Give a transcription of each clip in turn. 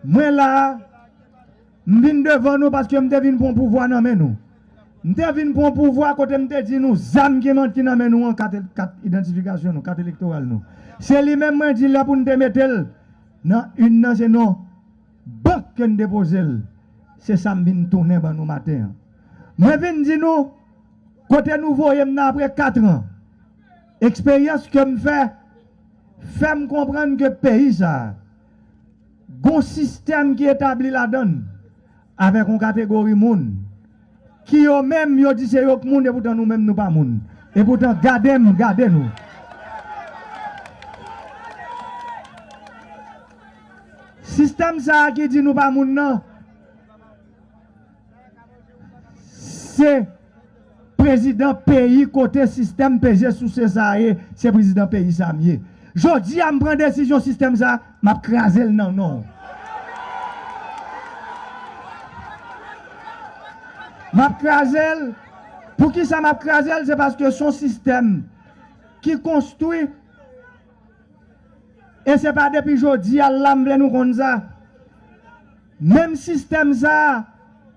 Mwen la a, m vin devan nou paske m te vin pran pouvwa nan men nou. M te vin pran pouvwa kote m te di nou zam ki man ki nan men nou an kat kat idantifikasyon nou, kat elektoral nou. Se li menm mwen di lè pou n te mete l nan urn nan se nan bank ke n depoze l. Se sa m vin tounen ban nou maten an. Mwen vin di nou kote nou voye m nan apre katran. Eksperyans ke m fè, fè m konprann ke peyi sa a, gon sistèm ki etabli ladan l, avèk yon kategori moun, ki yo menm yo di se yo k moun epoutan nou menm nou pa moun. Epoutan gade m gade nou. Sistèm sa a ki di nou pa moun nan. Se prezidan peyi kote sistèm peze souse sa a ye, se prezidan peyi sa a m ye. Jodi a m pran desizyon sistèm sa a, m ap kraze l nan non w. M ap kraze l, poukisa m ap kraze l, se paske s on sistèm ki konstwi. E se pa depi jodi a la m vle nou konn sa. Menm sistèm sa a,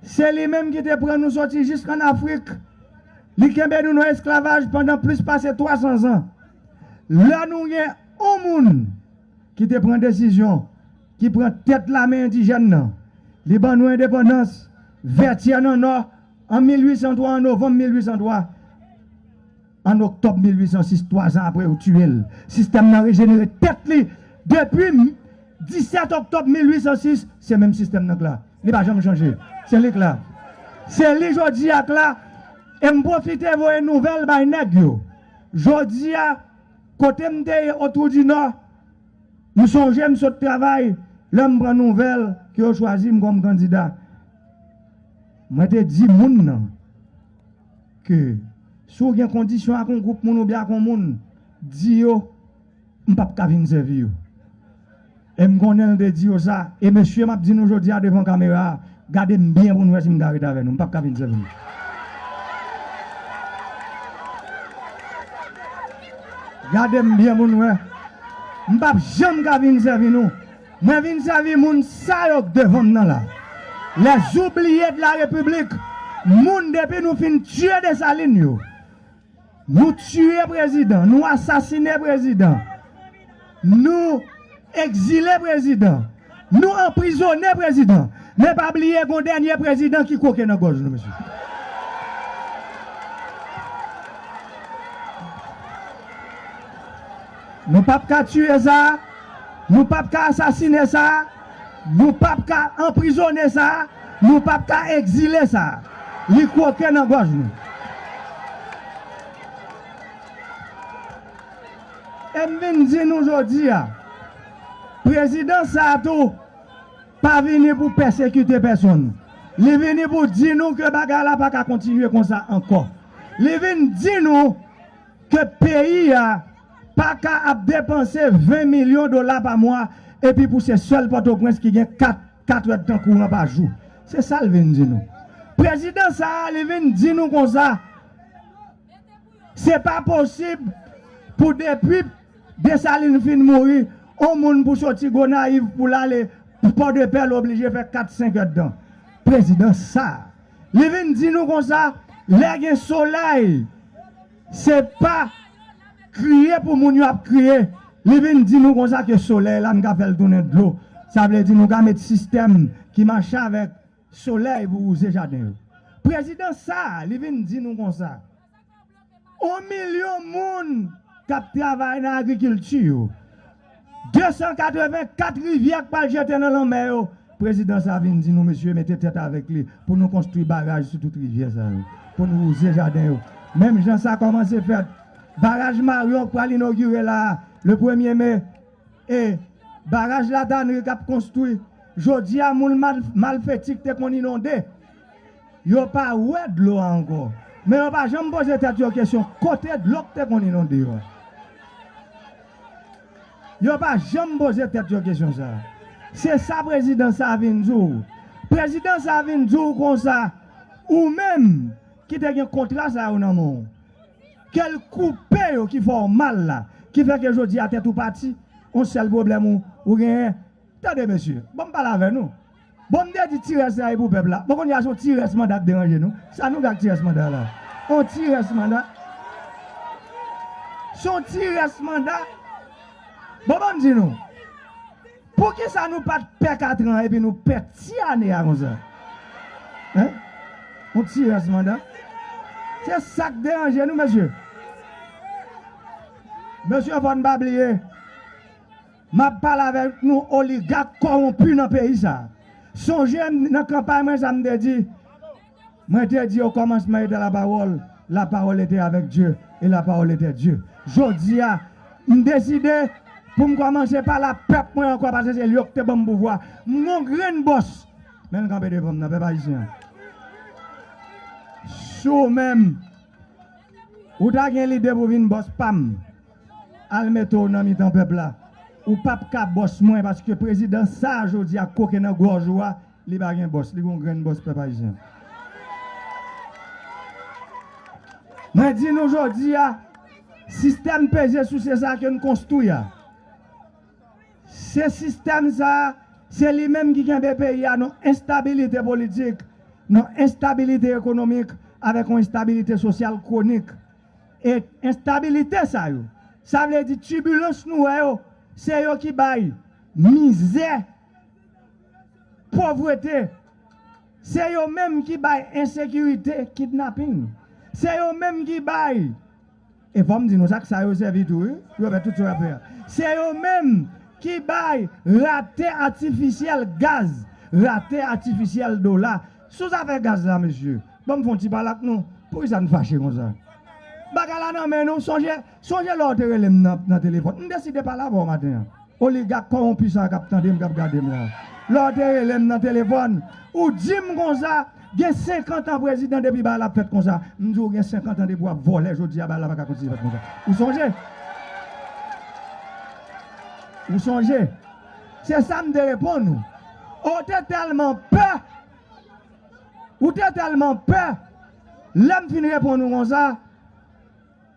se li menm ki te pran nou soti jisk ann Afrik. Li kenbe nou nan esklavaj pandan plis pase 300 zan. Lè nou gen yon moun ki te pran desizyon, ki pran tèt lame endijèn nan, li ban nou endepandans, Vètyè nan Nò, an 1803, an novanm 1803. An oktòb 1806, twa zan apre yo tiye l, sistèm nan rejenere tèt li. Depi 17 oktòb 1806, se menm sistèm nan k la. Li pa janm chanje. Se li k la. Se li jodi a k la. E m pwofite voye nouvèl bay nèg yo. Jodi a, kote m te ye Otwoudinò, m sonje m sot travay lè m pran nouvèl ke yo chwazi m kòm kandida. Mwen te di moun nan. Ke si w gen kondisyon ak yon gwoup moun oubyen ak yon moun, di yo m p ap ka vin sèvi yo. E m konnen l te di yo sa. E mesye m ap di nou jodi a devan kamera a, gade m byen pou nou wè si m ka ret avè nou. M p ap ka vin sèvi nou. Gade m byen pou nou wè. M p ap janm ka vin sèvi nou. Mwen vin sèvi moun sa yo k devanm nan la. Les oublies de la République moun depi nou fin tiye Dessalines yo nou tiye prezidan nou asasine prezidan nou ekzile prezidan nou anprizone prezidan men pa bliye gon dènye prezidan ki kwoke nan gòj nou mesye. Nou pap ka tiye sa, nou pap ka asasine sa, nou pap ka anprizone sa, nou pap ka egzile sa. Li kwoke nan gòj nou. E m vin di nou jodi a, prezidans sa a tou pa vini pou pèsekite pèsonn. Li vini pou di nou ke bagay la pa ka kontinye konsa ankò. Li vin di nou. ke peyi a pa ka ap depanse 20 milyon dola pa mwa epi pou se sèl Pòtoprens ki gen 4 katrèdtan kouran pa jou. Se sa l vin di nou. Prezidan sa a li vin di nou konsa, se pa posib pou depi Desalin fin mouri, on moun pou soti Gonayiv pou l ale Pòdepè l oblije fè 4 senkèdtan. Prezidan sa a. Li vin di nou konsa lè gen solèy se pa kriye pou moun yo ap kriye, li vin di nou konsa ke solèy la nou ka fèl tounen dlo, sa vle di nou ka met sistèm ki mache avèk solèy pou wouze jaden yo. Prezidan sa li vin di nou konsa. 1 milyon moun k ap travay nan agrikilti yo, 284 rivyè k pral jete nan lanmè yo, prezidan sa vin di nou mesye mete tèt avèk li pou nou konstwi baraj sou tout rivyè sa yo pou nou wouze jaden yo menm jan sa kòmanse fèt baraj Maryon k pral inogire la a le premye me e baraj Latanri k ap konstwi jodi a moun malfeti k te konn inonde. Yo pa wè dlo a ankò, men yo pa janm poze tèt yo kesyon kote dlo k te konn inonde yo a. Yo pa janm poze tèt yo kesyon sa a. Se sa prezidan sa a vin di w. Prezidan sa a vin di w konsa, ou menm ki te gen kontra sa yo nan men w, ke l koupe yo ki fè w mal la, ki fè ke jodi a tèt ou pati, on sèl pwoblèm ou genyen. Tande mesye, ban m pale avè nou. Bon m te di ti rès la e pou pèp la. Bon kounye a son ti rès manda k deranje nou. Sa nou gen ak ti rès manda la? On ti rès manda? Son ti rès manda? Bon banm di nou. Poukisa nou pat pè katran an epi nou pè ti ane a konsa? Hein? On ti rès manda? Se sa k deranje nou mesye? Mesye fò n pa bliye. Map pale avek nou oligak kowonpi nan peyi sa. Sonje nan kanpay mwen sa m te di? Mwen te di o komansman ete la pawol, la pawol ete avek Dye e la pawol ete Dye. Jodi a m deside pou m komanse pale a pep mwen anko pase se yo ki te banm pouvwa. M gon grenn bos men l kanpe devan m nan pep ayisyen an. Si w menm ou ta gen lide pou vin bos pam. Al mete w nan mitan pèp la. Ou pap ka bòs mwen paske prezidan sa a jodi a koke nan gòj ou a li pa gen bòs li gon grenn bòs pèp ayisyen. Mwen di nou jodi a sistèm peze souse sa a ke n konstwi a se sistèm sa a se li menm ki kenbe peyi a nan enstabilite politik nan enstabilite ekonomik avèk yon enstabilite sosyal kwonik. E enstabilite sa yo, sa vle di tibilans nou wè yo, se yo ki bay mizè, povrete, se yo menm ki bay ensekirite, kidnaping, se yo menm ki bay, e fò m di nou sa ak sa yo sèvi tou wi pou yo fè tout sa yo ap fè a, se yo menm ki bay rate atifisyèl gaz, rate atifisyèl dola sou zafè gaz la mesye. Banm fon ti pale ak nou, poukisa n fache konsa? Bagay la nan men nou, sonje, sonje lè w te rele m nan, nan telefòn. M deside pale avè w maten an. Oligak kòwonpi sa a k ap tande m, k ap gade m la a. Lè w te rele m nan telefòn, ou di m konsa, gen senkantan prezidan depi bagay la ap fèt konsa. M di w gen senkantan depi w ap vòlè jodi a bagay la pa ka kontinye fèt konsa. Ou sonje? Ou sonje? Se sa m te reponn ou. Ou te tèlman pè! Ou te tèlman pè, lè m fin reponn ou konsa,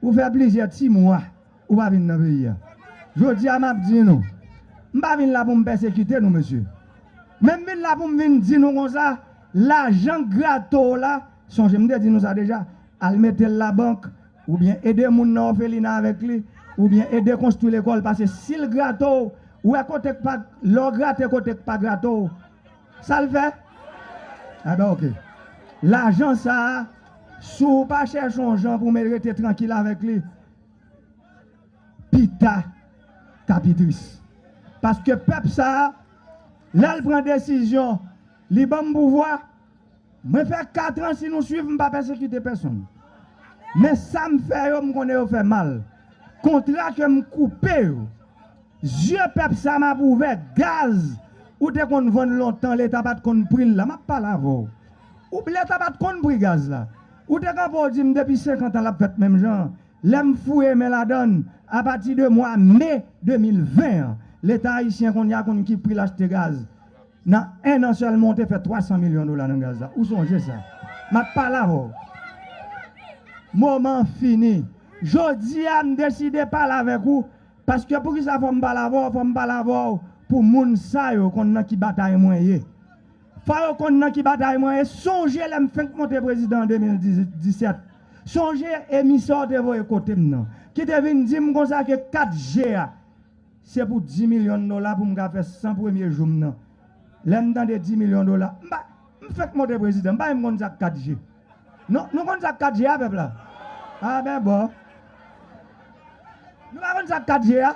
ou fè plizyè ti mwa ou pa vin nan peyi a. Jodi a m ap di nou, m pa vin la pou m pèsekite nou mesye, men m vin la pou m vin di nou konsa, lajan k grate w la, sonje m te di nou sa deja, al mete l labank, oubyen ede moun nan òfelina avèk li, oubyen ede konstwi lekòl, pase si l grate w, wè kote k pa, lè w grate kote k pa grate w, Sa l fè? A ben ok. Lajan sa a, si w pa chèche yon jan pou w met rete trankil avèk li, pita ka pi tris. Paske pèp sa a, lè l pran desizyon li ban m pouvwa, Mwen fè 4 ans si nou swiv m pa pèsekite pèsonn men sa m fè yo m konnen yo fè mal kontra ke m koupe yo zye pèp sa m ap ouvè gaz ou te konn vann lontan leta pat konn pri l la m ap pale avè w ou leta pat konn pri gaz la ou te kanpe w di m depi 50 an l ap fèt menm jan an lè m fouye men ladan l apati de mwa me 2020 an leta ayisyen konnya konn ki pri l achte gaz Nan 1 an sèlman ou te fè 300 milyon dola nan gaz la. Ou sonje sa. M ap pale avè w. Moman an fini. Jodi a m deside pale avèk ou paske poukisa fò m pale avè w, fò m pale avè w pou moun sa yo konn nan ki batay mwen ye. Fò yo konn nan ki batay mwen ye. Sonje lè m fenk monte prezidan an 2017. Sonje emisè w te voye kote m nan ki te vin di m konsa ke 4 je a. Se pou 10 milyon dola pou m ka fè 100 premye jou m nan. Lè m tande 10 milyon dola, m pa, m fèk monte prezidan, m pa menm konn sa k 4 je. Non, nou konn sa k 4 je a, pèp la? A ben bo. Nou pa konn sa k 4 je a?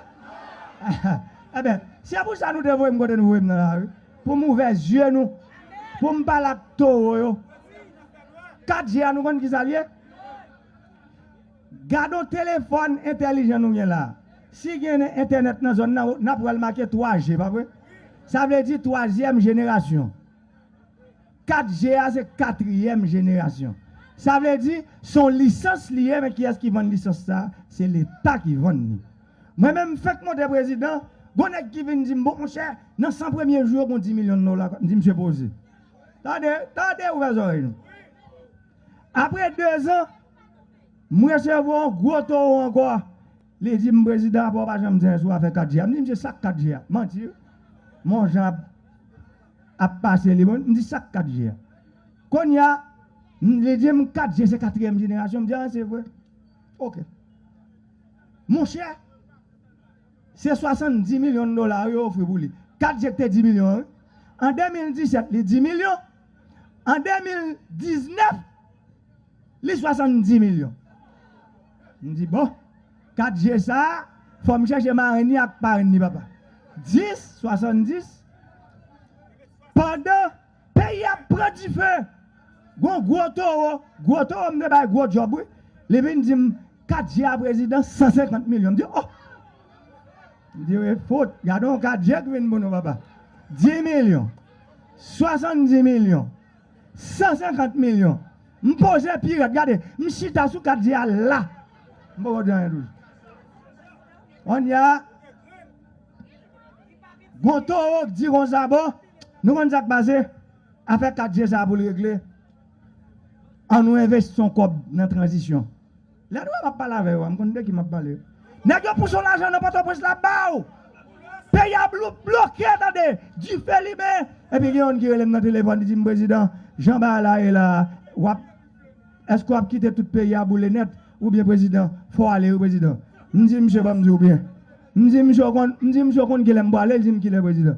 E ben, se pou sa nou te voye m kote nou voye m nan la wi, pou m ouvè zye nou, pou m pale ak towo yo. 4 je a nou konn ki sa l ye? Gadon telefòn entèlijan nou gen la. Si gen entènèt nan zòn nan, nap wèl make 3G pa vre? Sa vle di twazyèm jenerasyon. 4G a se katriyèm jenerasyon. Sa vle di son lisans li ye men kiyès ki vann lisans sa? Se leta ki vann li. Mwen menm m fenk monte prezidan, gon nèg ki vin dim bon monchè nan 100 premye jou yo gon 10 milyon dola, m di misye poze. Tande, tande ouvè zòrèy nou. Apre 2 zan. M resevwa on gwo towo ankò, li di m prezidan apa w pa janm di anyen sou afè 4G a. M di misye sak 4G a? Manti wi. Mon jan ap ap pase li bon, m di sak 4G a? Kounye a, li di m 4G se katriyèm jenerasyon, m di a se vre? Ok. Monchè, se 70 milyon dola wi yo ofri pou li. 4G ki te 10 milyon an wi. An 2017 li 10 milyon, an 2019. Li 70 milyon. M di bon, 4 je sa a, fò m chèche marenn ni ak parenn ni papa. 10, 70. Pandan peyi a ap pran dife, gon gwo towo, gwo towo m te bay gwo djòb wi, li vin di m, 4 je a prezidan, 150 milyon. M di oh! M di e fout, gade yon 4 je k vin pou nou papa. 10 milyon. 70 milyon. 150 milyon m poze pi rèd gade m chita sou kat di a la m poko di anyen toujou kounye a gon towo k di kon sa bon nou konn sak pase afè kat je sa poul regle an nou envesti yon kòb nan tranzisyon. Lè nou wè map pale avè yo a m konn de ki map pale. Nèg yo pouche w lajan nan pòtoprens la ba w. Peyi a bloke tande, dife limen. Epi gen youn ki rele m nan telefòn li di m prezidan jan bagay la ye la a wap èske wap kite tout peyi a boule nèt ou byen prezidan fò w ale wi prezidan. M di misye banm di w byen. M di misye w konn m di misye w konn kilè m pwale li di m kilè prezidan.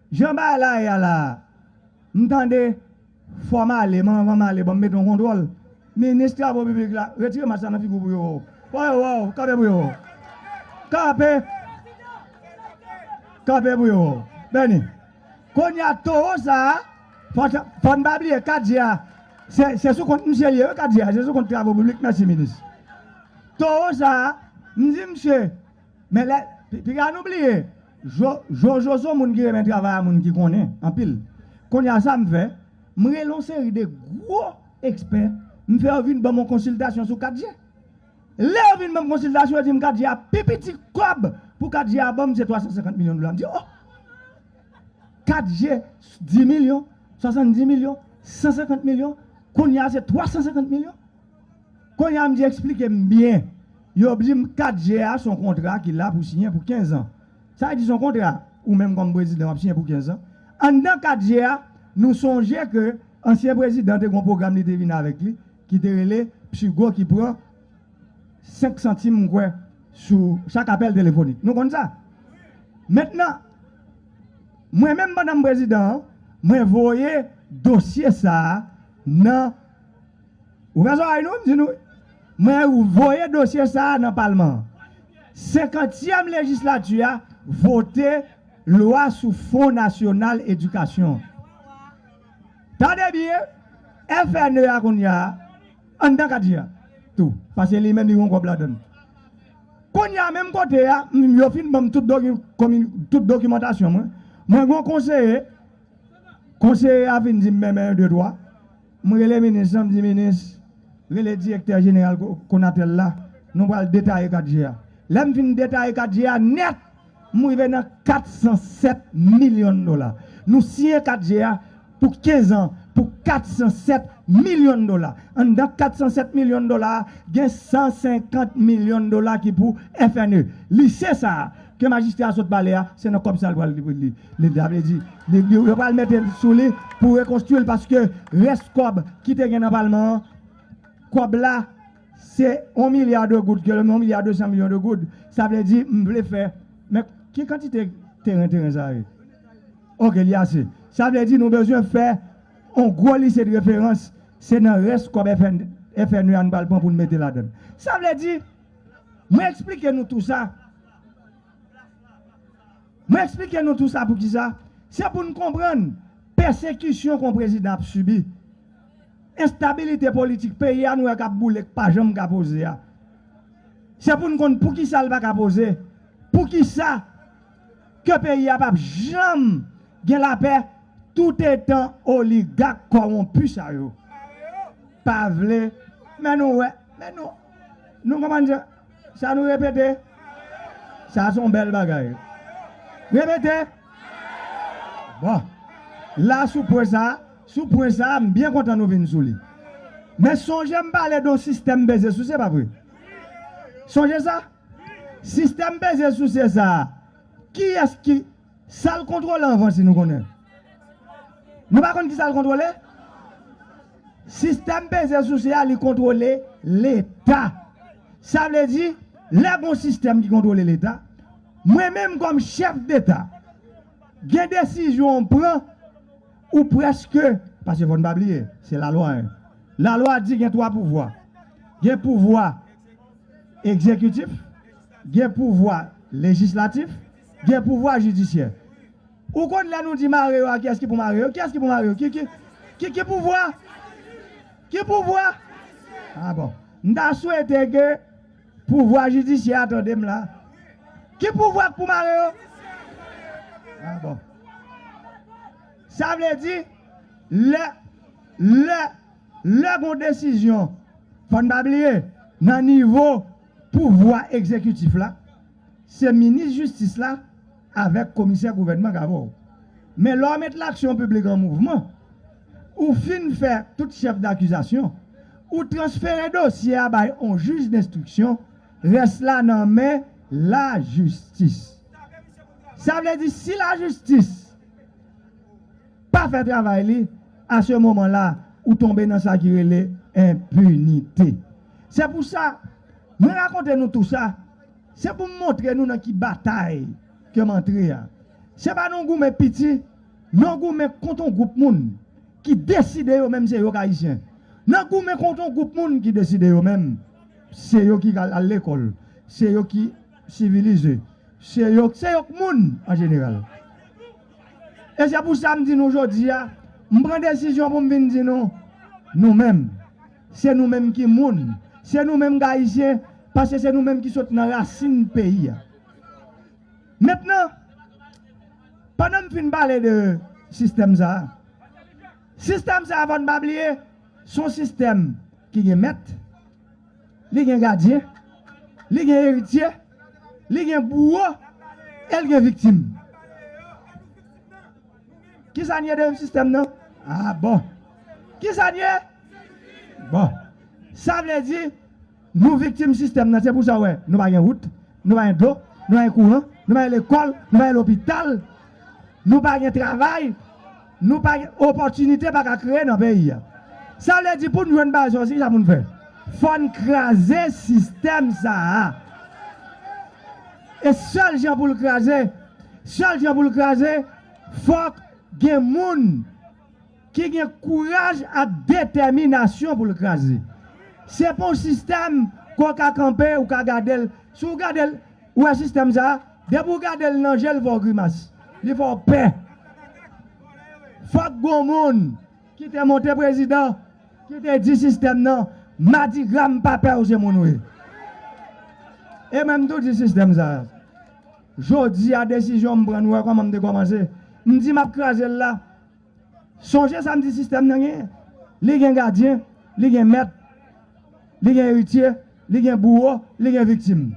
Jan bagay la ye a la a, m tande fò m ale, men anvan m ale ban m mete yon kontwòl. Minis travo piblik la, retire mask la nan figi w pou yo wè w. Fò yo wè w, kanpe pou yo wè w. Kanpe! Kanpe pou yo wè w. Bèni. Kounye a towo sa a, fò n pa bliye kat je a, se sou kont misye l ye wi kat je a, se sou kont travo piblik, mèsi minis. Towo sa a, m di misye, men lè, piga nou bliye, Jojo son moun ki renmen travay a moun ki konnen anpil kounya sa m fè m rele yon seri de gwo ekspè m fè yo vin banm yon konsiltasyon sou 4G lè yo vin banm konsiltasyon yo dim 4G a pi piti kòb pou 4G a banm se 350 milyon dola m di oh 4G 10 milyon 70 milyon 150 milyon kounya se 350 milyon Konnya m di eksplike m byen. Yo di m 4 je a s on kontra ki la pou siyen pou 15 an. Sa vle di s on kontra ou menm kòm prezidan w ap siyen pou 15 an. Anndan 4 je a, nou sonje ke ansyen prezidan te gen yon pwogram li te vin avèk li ki te rele PSUGO ki pran 5 santim m kwè sou chak apèl telefonik. Nou konn sa? Mentnan, mwen menm pandan m prezidan an, mwen voye dosye sa a nan. Ouvè zòrèy nou, m di nou wi. Mwen voye dosye sa a nan palman an. Senkantyèm lejislati a vote lwa sou fon nasyonal edikasyon an. Tande byen, FNE a kounye a, anndan kati a tou, paske li menm li gen yon kòb ladann. Kounye a menm kote a, yo fin ban m tout dokimantasyon mwen, mwen gen yon konseye, konseye a fin di m men men yon de twa. M rele minis lan m di minis rele direktè jeneral Konatel la nou pral detaye 4 je a lè m fin detaye 4 je a nèt m rive nan 407 milyon dola nou siyen 4 je a pou 15 an pou 407 milyon dola anndan 407 milyon dola a gen 150 milyon dola ki pou FNE lise sa a. Ke majistra a sot pale a, se nan kòb sa l pral li. Sa vle di, yo pral mete sou li pou rekonstwi l paske rès kòb ki te gen nan palman an, kòb la se yon milya de goud, yon milya desan milyon de goud. Sa vle di m vle fè, men ki kantite teren teren sa ye? Ok, li ase. Sa vle di nou bezwen fè yon gwo lise de referans, se nan rès kòb FNE a n pral pran pou n mete ladan l. Sa vle di. Mwen eksplike nou tou sa Mwen eksplike nou tou sa poukisa Se pou n konprann pèsekisyon kon prezidan ap sibi Enstabilite politik peyi a nou wè k ap boule k pa janm ka poze a Se pou n konn poukisa l pa ka poze Poukisa ke peyi a p ap janm gen lapè toutetan oligak kòwonpi sa yo pa vle Men nou wè Men nou. Nou konprann sa? Sa nou repete? Sa son bèl bagay. Repete! Bon. La sou pwen sa, sou pwen sa a, m byen kontan nou vin sou li. Men sonje m pale de yon sistèm peze souse, pa vre? Sonje sa? Sistèm peze souse sa a, kiyès ki Sal kontrole anvan si nou konnen. Nou pa konn kisal kontrole? Sistèm peze souse a li kontrole leta. Sa vle di lè gon sistèm ki kontrole leta, mwen menm kòm chèf deta gen desizyon'w pran ou preske, paske fòn pa bliye se lalwa hein. Lalwa di gen 3 pouvwa, gen pouvwa egzekitif, gen pouvwa lejislatif. Gen pouvwa jidisyè. Ou konn lè nou di mare yo a kiyès ki pou mare yo? Kiyès ki pou mare yo? Ki ki ki ki pouvwa? Ki pouvwa? A bon. M ta swete ke pouvwa jidisyè a tande m la. Ki pouvwa k pou mare yo? A bon. Sa vle di lè lè lè gon desizyon fò n pa bliye nan nivo pouvwa egzekitif la. Se minis jistis la avèk komisè gouvènman k avè w. Men lè w met laksyon piblik an mouvman, ou fin fè tout chèf dakizasyon, ou transfere dosye a bay on jij denstriksyon, rès la nan men lajistis. Sa vle di si lajistis pa fè travay li, a se moman la ou tonbe nan sa ki rele enpinite. Se pou sa, mwen rakonte nou tou sa. Se pou m montre nou nan ki batay ke m antre a. Se pa nan yon goumen piti, nan yon goumen kont yon gwoup moun ki deside yo menm se yo k Ayisyen. Nan goumen kont yon gwoup moun ki deside yo menm se yo ki ka al lekòl, se yo ki sivilize, se yo se yo k moun an jeneral. E se pou sa m di nou jodi a, m pran desizyon pou m vin di nou, nou menm. Se nou menm ki moun, se nou menm k Ayisyen, paske se nou menm ki sot nan rasin peyi a. Mentnan, pandan m fin pale de sistèm sa a, sistèm sa a fò n pa bliye, s on sistèm ki gen mèt, li gen gadyen, li gen eritye, li gen bouwo e l gen viktim. Kisa n ye deyim sistèm nan? Ah bon! Kisa n ye? Bon! Sa vle di, nou viktim sistèm nan. Se pou sa ou wè nou pa gen wout, nou pa gen dlo, nou pa gen kouran, nou pa gen lekòl, nou pa gen lopital, nou pa gen travay, nou pa gen opòtinite pa ka kreye nan peyi a. Sa vle di pou n jwenn bagay sa yo, se kisa pou n fè? Fò n kraze sistèm sa a. E sèl jan pou l kraze, sèl jan pou l kraze, fòk gen moun ki gen kouraj ak detèminasyon pou l kraze. Se pa yon sistèm ke w ka kanpe, ou ka gade l. Si w gade l, ou wè sistèm sa a, depi w gade l nan je l fè w grimas, li fè w pè. Fòk gen yon moun Ki te monte prezidan, ki te di sistèm nan, madigra m pa pè w se moun w ye. E mwen m tou di sistèm sa a, jodi a desizyon m pran nou wè kòman m te kòmanse, m di m ap kraze l la. Sonje sa m di sistèm nan genyen, li gen gadyen, li gen mèt, li gen eritye, li gen bouwo, li gen viktim.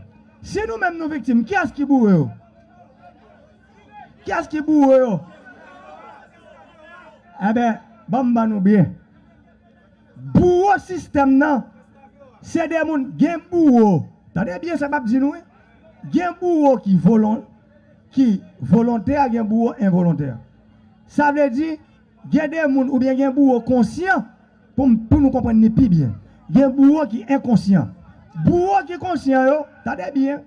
Si nou menm nou viktim, kiyès ki boure yo? Kiyès ki boure yo? Enben, ban m ban nou biyè. Bouwo sistèm nan, se de moun. Gen bouwo, tande byen sa m ap di nou wi, gen bouwo ki volon, ki volontè, gen bouwo envolontè. Sa vle di, gen de moun oubyen gen bouwo konsyan, pou m, pou nou konprann ni pi byen. Gen bouwo ki enkonsyan. Bouwo ki konsyan yo, tande byen.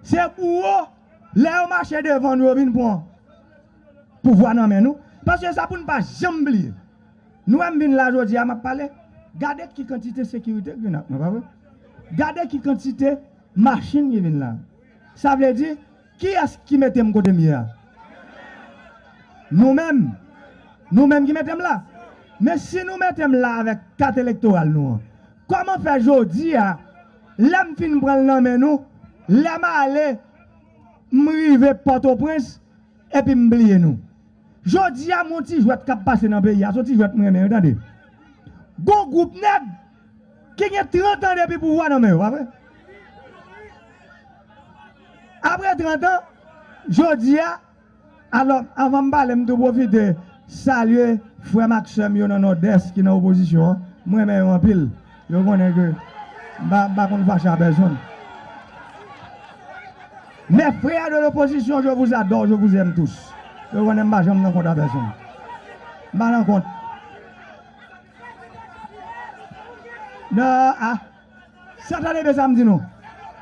Se bouwo lè yo mache devan nou yo vin pwan pouvwa nan men nou paske sa poun pa janm bliye nou wèm vin la jodi a map pale gade ki kantite sekirite ki vin ak mwen pa vre gade ki kantite machin ki vin la sa vle di kiyès ki metem kotem ye a nou menm nou menm ki metem la men si nou metem la avèk kat elektoral nou an kòman fè jodi a Lè m fin pran l nan men nou, lè m ale, m rive Pòtoprens, epi m bliye nou. Jodi a, m on ti jwèt k ap pase nan peyi a, s on ti jwèt m renmen wi tande. Gon gwoup nèg ki gen 30 an depi pouvwa nan men yo, pa vre? Apre 30 an, jodi a. Alò, anvan m pale, m tou pwofite salye frè m ak sè m yo nan Nòdès ki nan opozisyon an. M renmen yo anpil. Yo konnen ke m pa konn fache a pèsonn. Mes frères de l'opposition, je vous adore, je vous aime tous. Yo konnen m pa janm nan kont a pèsonn. M pa nan kont. Non, a. Sa tande byen sa m di nou.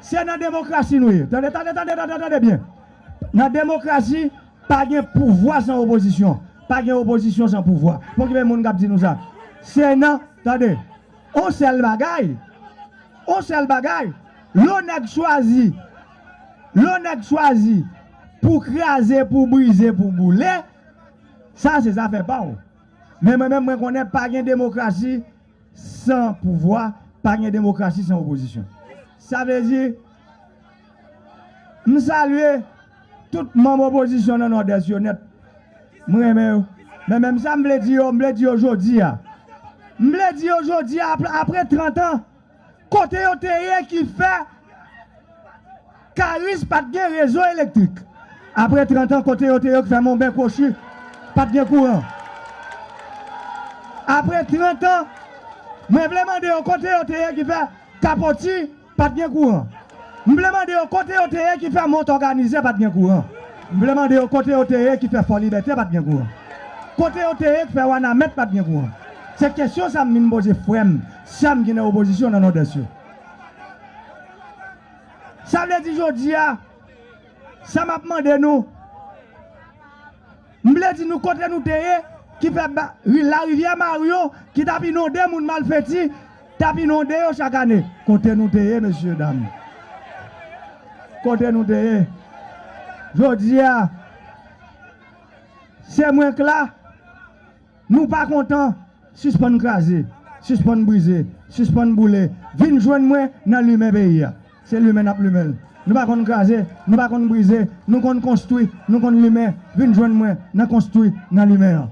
Se nan demokrasi nou ye. Tande tande tande tande tande byen. Nan demokrasi pa gen pouvwa san opozisyon. Pa gen opozisyon san pouvwa. Fò ki gen moun k ap di nou sa. Se nan tande. On sèl bagay on sèl bagay lè w nèg chwazi lè w nèg chwazi pou w kraze pou w brize pou w boule sa se zafè pa w men mwen menm mwen konnen pa gen demokrasi San pouvwa, pa gen demokrasi san opozisyon. Sa vle di, m salye tout manm opozisyon nan Nòdès yo nèt. M renmen yo. Men menm sa m vle di yo, m vle di yo jodi a. M vle di yo jodi a, apre trantan, kote yo te ye ki fè. Karis pat gen rezo elektrik. Apre 30 an kote yo te yo k fè monben kwochi pat gen kouran. Apre 30 an mwen vle mande yo kote yo te ye ki fè kapoti pat gen kouran. M vle mande yo kote yo te ye ki fè mont òganize pat gen kouran. M vle mande yo kote yo te ye ki fè fòlibète pat gen kouran. Kote yo te ye k fè wanamèt pat gen kouran. Se kesyon sa m vin poze frè m, sè m ki nan opozisyon nan nòdès yo. Sa vle di jodi a, sa m ap mande nou, m vle di nou kote nou te ye ki fè larivyè Mario ki t ap inonde moun malfeti, t ap inonde yo chak ane. Kote nou te ye mesye dam? Kote nou te ye? Jodi a, se mwen k la. Nou pa kontan? Sispann kraze, sispann brize, sispann boule, vin jwenn mwen nan limen peyi a. Se limen n ap limen l. Nou pa konn kraze, nou pa konn brize, nou konn konstwi, nou konn limen, vin jwenn mwen nan konstwi, nan limen an.